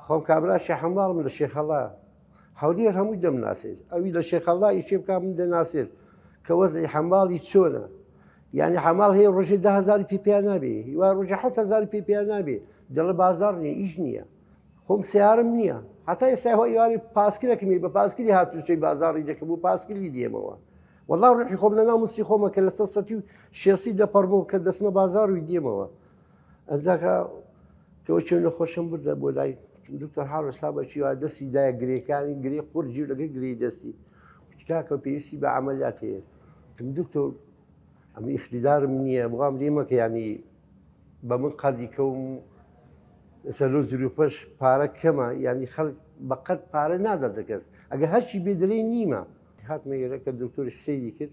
خۆم کابرا شەحماڵم لە شێخەڵا هەولێر هەمووی دەمناسێت ئەوی لە شێخەڵا ئیشێ بک من دەناسێت کە وەزی حەماڵی چۆنە یعنی حەماڵ هەیە ڕژێ دههزار پی پێ نابێ هیوا ڕژە حهزار پی پێ نابێ دەڵە بازار نیە ئیش نییە خۆم سیارم نییە هەتا ئێستا هۆ یواری پاسکرەکەمی بە پاسکری هاتوچەی بازاری دەکەم و پاسکری دێمەوە وەڵا ڕحی خۆم لە ناو مستی خۆمە کە لە سە سەتی و شێسی دەپەڕبوو کە دەسمە بازار و دێمەوە ئەزاکە کەەوە چێ نەخۆشم بردە بۆ لای دکتۆر هاڕستا بەچی وا دەستی دایە گرێکانی گرێ قڕ جیو لەگە گری دەستی تکاکە پێویستی بە عملیات هەیە تم دکتۆر ئەم ئیخدیدارم نییە بڵام لێمەکە ینی بە من قەردی کەوم ئێستا لۆ زروپەش پارە کەمە ینی خەڵک بەقەت پارە نادە دەکەس ئەگە هەرچی بێدەلەی نیمە هاتمە ئێرە کە دکتۆری سەیری کرد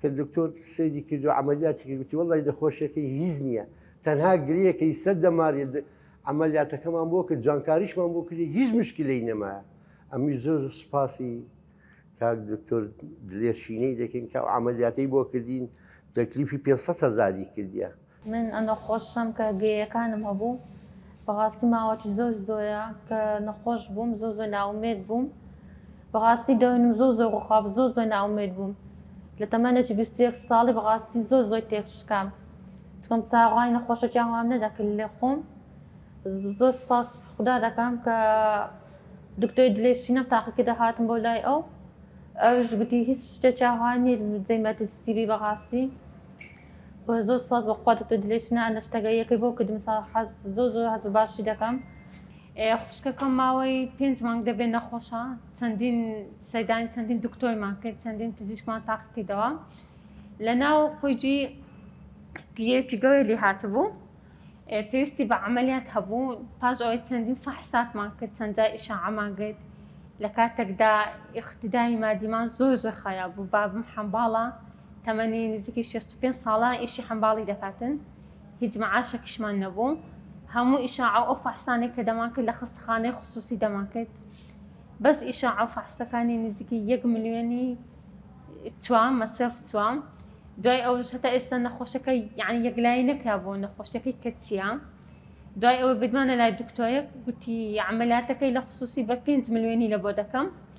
کە دکتۆر سەیری کردو عەمەلیاتی کرد گوتی وەڵڵی نەخۆشیەکەی هیچ نییە تەنها گرێیەکەی سەر دەمارێ عملیاتەکەمان بۆ کرد جوانکاریشمان بۆ کردی هیچ مشکلەی نەمایە ئەمی زۆر سپاسی کاک دکتۆر دلێرشینەی دەکەین کە ئەو عملیاتەی بۆ کردین تەکلیفی پێ هزاری کردیە من ئەنەخۆشەم کە گێیەکانم هەبوو بەڕاستی ماوەکی زۆر زۆرە کە نەخۆش بووم زۆر زۆر ناومێد بووم بەڕاستی دەونم زۆر زۆر ڕوخاب زۆر زۆر ناومێد بووم لە تەمەنەکی بیست و یەک ساڵی بەڕاستی زۆر زۆر تێکشکام چکم چاڕوانی نەخۆشەکیان وام نەدەکرد لە خۆم زۆر سپاس خودا دەکەم کە دکتۆی دلێ شینەم تاقیکردە هاتم بۆ لای ئەو ئەوش گوتی هیچ شتێکیان وان نیت جێی مەترسیبی بەڕاستی وە زۆر سوپاس بەخوا دکتۆر دلێ چنە ئەندە شتەگە یەکەی بۆ کردم سا حەز زۆر زۆر حەز باشی دەکەم خوشکەکەم ماوەی پێنج مانگ دەبێت نەخۆشە چەندین سەدانی چەندین دکتۆیمان کرد چەندین پزیشکمان تاقیکردەوە لە ناو قویجی گیەکی گەوێ لێ هاتبوو پێویستی بە عملیات هەبوو پاش ئەوەی چەندین فحساتمان کرد چەندجا ئیشعامان گرت لە کاتێکدا اقتدای مادیمان زۆر زۆر خراپ بوو بابم حەمباڵە تەمەنی نزیکی شەست و پێنج ساڵە ئیشی حەمباڵی دەکاتن هیچ مەعاشەکیشمان نەبوو هەموو ئیشاعە و فەحسانێک کە دەمان کرد لە خەستەخانەی خصوصی دەمان کرد بەس ئیشاعە و فەحسەکانی نزیکی یەک ملیۆنی توام مەسرف توام دوای ئەوش هەتا ئێستا نەخۆشەکە یعنی یەکلایی نەکرا بۆ نەخۆشەکەی کە چیە دوای ئەوە بدمانە لای دکتۆرێک گوتی عملیاتەکەی لە خصوصی بە پێنج ملیۆنی لە بۆ دەکەم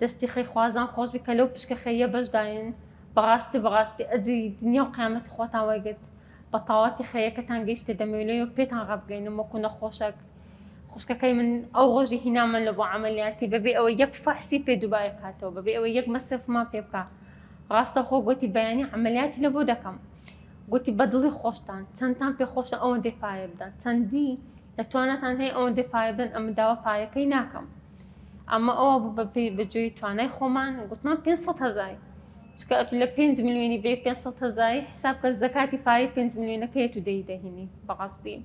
دەستی خەی خوازان خۆش بی کە لەو پشکە خەییە بەش داین بەڕاستی بەڕاستی ئەجری دنیا و قیامەتی خوتان وەرگرت بەتاڵەتی خەیەکەتان گەیشتە دەمەوێ لۆ پێتان ڕابگەینم وەکو نەخۆشەک خوشکەکەی من ئەو ڕۆژی هینامان لە بۆ عەمەلیاتی بەبێ ئەوەی یەک فەحسی پێ دوبارە کاتەوە بەبێ ئەوەی یەک مەسرفمان پێ بکا ڕاستەوخۆ گۆتی بەیانی عەمەلیاتی لە بۆ دەکەم گۆتی بەدڵی خۆشتان چەندتان پێ خۆشە ئەوەندەی پارە بدەن چەندی لە تواناتان هەیە ئەوەندەی پارە بدەن ئەمن داوا پارەکەی ناکەم ئەمە ئەوە بوو بە پێی بەجێی توانای خۆمان گوتمان 500 هزار چکە ئەتو لە 5 میلیۆنی بێ 500 هزاری حساب کە زەکاتی پارەی 5 میلیۆنەکە هەیە و دەی دەهینی بەڕاستی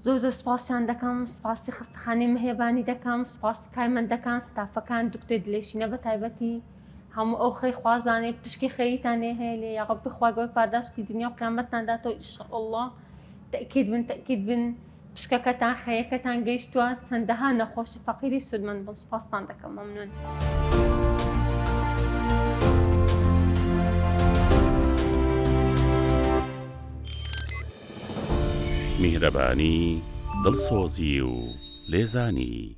زۆر زۆر سپاسیان دەکەم سپاسی خستخانی مهێبانی دەکەم سپاسی کارمەندەکان ستافەکان دکتۆ دلێشینە بە تایبەتی هەموو ئەو خەی خوازانێ پشکی خەریتانێ هەیە لێ یاڕبی خواگەۆر پاداشتی دنیا و قیامەتتانداتەوە ئیشەڵڵە تەکیید بن تەکیید بن پشکەکەتان خەیەکەتان گەیشتوە چەندەها نەخۆشی فەقیری سودمەند بن سوپاستان دەکەم مەمنون. میهرەبانی دڵسۆزی و لێزانی